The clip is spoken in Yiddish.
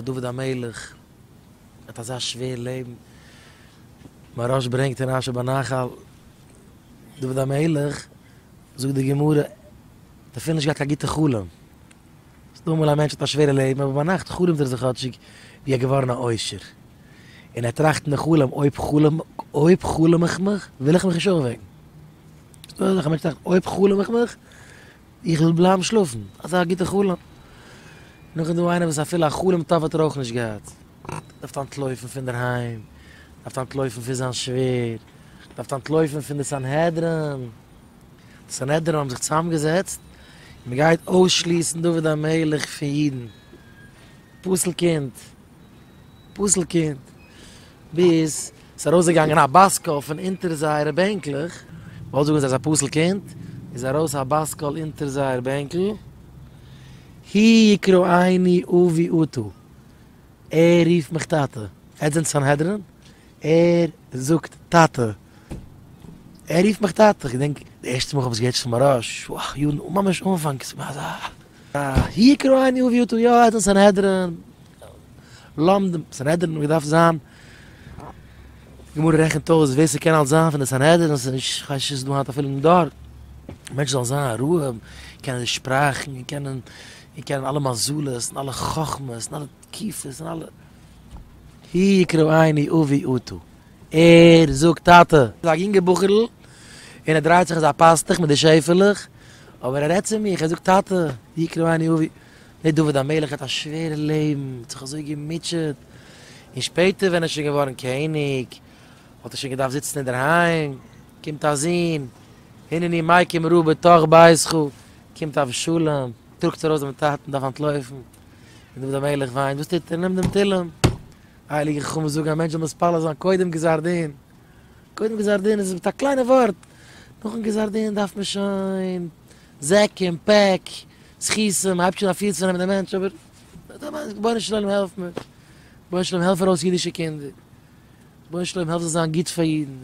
דוד המלך האט אזא שווער לעבן, מהרש ברענגט אין אשר בנחל, דוד המלך, זאגט די גמרא, האט אפילו נישט געהאט קיין גוטע חלום, ס'דא אמאל א מענטש האט א שווערע לעבן אבער ביינאכט חלומ'ט ער זיך כאטשיג ווי ער איז געווארן א עושר, און ער טראכט אין די חלום אויב חלום אויב חלום איך מיך וויל איך מיך נישט אויפוועקן, ס'דא אזעלכע מענטשן וואס טראכטן אויב חלום איך מיך איך וויל בלייבן שלאפן, אזא א גוטע חלום. נאך איז דא איינער וואס אפילו א חלום טוב האט ער אויך נישט געהאט. דארפט אנטלויפן פון דער היים, דארפט אנטלויפן פון זיין שווער, דארפט אנטלויפן פון די סנהדרין. די סנהדרין האבן זיך צוזאמגעזעצט און מען גייט אויסשליסן דוד המלך פון אידן. פסול קינד! פסול קינד! ביז ס'איז ארויסגעגאנגען א באסקאל פון אונטער זייערע בענקלעך, מ'וואלט זאגן זיי איז א פסול קינד, איז ארויס א באסקאל אונטער זייער בענקל, הי יקרא עיני אבי אותו, ער רופט מיך טאטע, עטס זענט סנהדרין? ער זאגט טאטע, ער רופט מיך טאטע, כ'געדענק די ערשטע מאל כ'האב עס געהערט שמרש, וואו, יארן, ממש אנפאנג, ס'איז געווען אזא. ויקרא עני וביאותו יא עד אין סנהדרין למדו סנהדרין ווי דארף זיין די גמרא רעכנט אויס ווער ס'קען אלס זיין פון די סנהדרין און ס'איז נישט כ'ווייס נישט דא היינט אפילו אין דור מענטש זאל זיין א רהב קענען די שפראכן און קענען און קענען אלע מזלות און אלע חכמות און אלע תקיפה ז ל הי יקרא עיני אבי אותו ער זאגט טאטע. איז א יונגע בחור'ל און ער דרייט זיך אזא פאסטוך מיט די שעפעלעך אבער ער רעדט צו מיך ער זאגט טאטע הי יקרא עיני אבי דער דוד המלך האט א שווערע לעבן האט זיך אזוי געמוטשעט און שפעטער ווען ער איז שוין געווארן קעניג האט ער שוין געדארפט זיצן אינדערהיים קומט א זון הנני מיקים רע בתוך ביתך קומט אבשלום דרוקט ארויס דעם טאטן דארף אנטלויפן. און דוד המלך וויינט, וואס טוט ער? נעמט דעם תהילים. הייליגע חכמים זאגן, א מענטש זאל מתפלל זיין קודם גזר דין. קודם גזר דין איז מיט א קליינע ווארט. נאכן גזר דין דארף מען שוין זעקים, פעק, סכיסים, מען הייבט שוין אפי' צו נעמען דעם מענטש, אבער דא מיינט רבונו של עולם העלף מיר. רבונו של עולם העלף ארויס אידישע קינדער. רבונו של עולם העלף זיי זיין גוט פאר אידן.